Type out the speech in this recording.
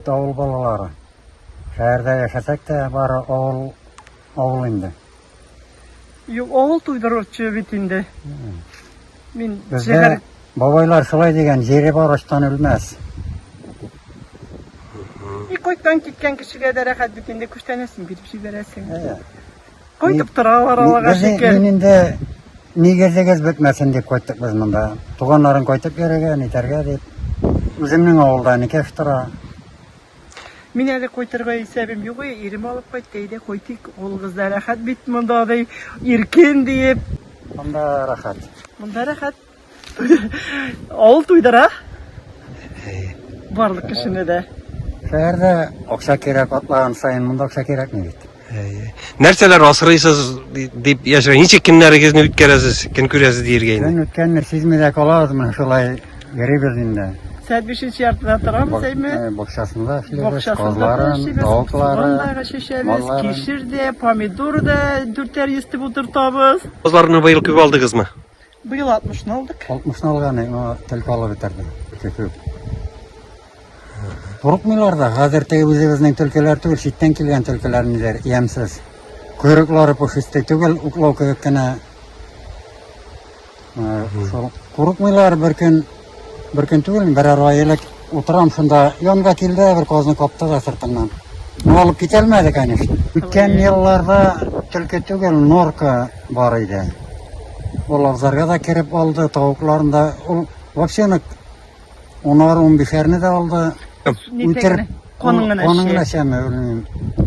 Авыл балалары. Шәһәрдә яшәсәк тә, бары авыл, авыл инде. Юк, авыл туйдыручы бит инде. Мин Бездә шәһәр бабайлар шулай дигән, җире бар ачтан үлмәс. и кайткан киткән кешегә дә рәхәт бит инде күчтәнәсен биреп җибәрәсең. Әйе. Кайтып торалар алага шикер. Мин инде нигезегез бетмәсен дип кайттык без монда. Туганнарын кайтып йөрергә, нитәргә дип. Үземнең авылда никәш тора. Мин әле кайтырга исәбем юк, ирем алып кайтты, әйдә кайтыйк, улыгызда рәхәт бит монда, ди, иркен диеп. Монда рәхәт. Монда рәхәт. Авыл туйдыра. Барлык кешене дә. Шәһәрдә акча кирәк атлаган саен монда акча кирәкми бит. Нәрсәләр асрыйсыз дип яшерә? Ничек көннәрегезне үткәрәсез? Көн күрәсез диергә инде. Көн үткәнне сизми дә калабыз, менә шулай йөрибез инде. Сәт бишенче яртыда торамыз, әйме? Э, бакчасында эшлибез, Бакчасында эшлибез, тауыклары, чәчәбез, малларын. кишер дә, помидор да дүртәр йөз дип утыртабыз. Козларны быел күп алдыгызмы? Быел 60 ны алдык. 60 ны алган, аңа төлке алып бетердем. Көтү. Курыкмыйлар да, хәзер теге үзебезнең төлкеләр түгел, читтән килгән төлкеләр ниләр, ямсыз. Койрыклары пушистый түгел, уклау кебек кенә. Э, Курыкмыйлар бер көн Бер көн түгел, берәр ай элек утырам шунда, янга килде, бер казны капты да сыртыннан. Ну, алып китәлмәде, конечно. Үткән елларда төлке түгел, норка бар иде. Ул абзарга да кереп алды, тавыкларын да, ул вообще нык унар-унбишәрне дә алды. Үтереп, Каның гына чәме, белмим.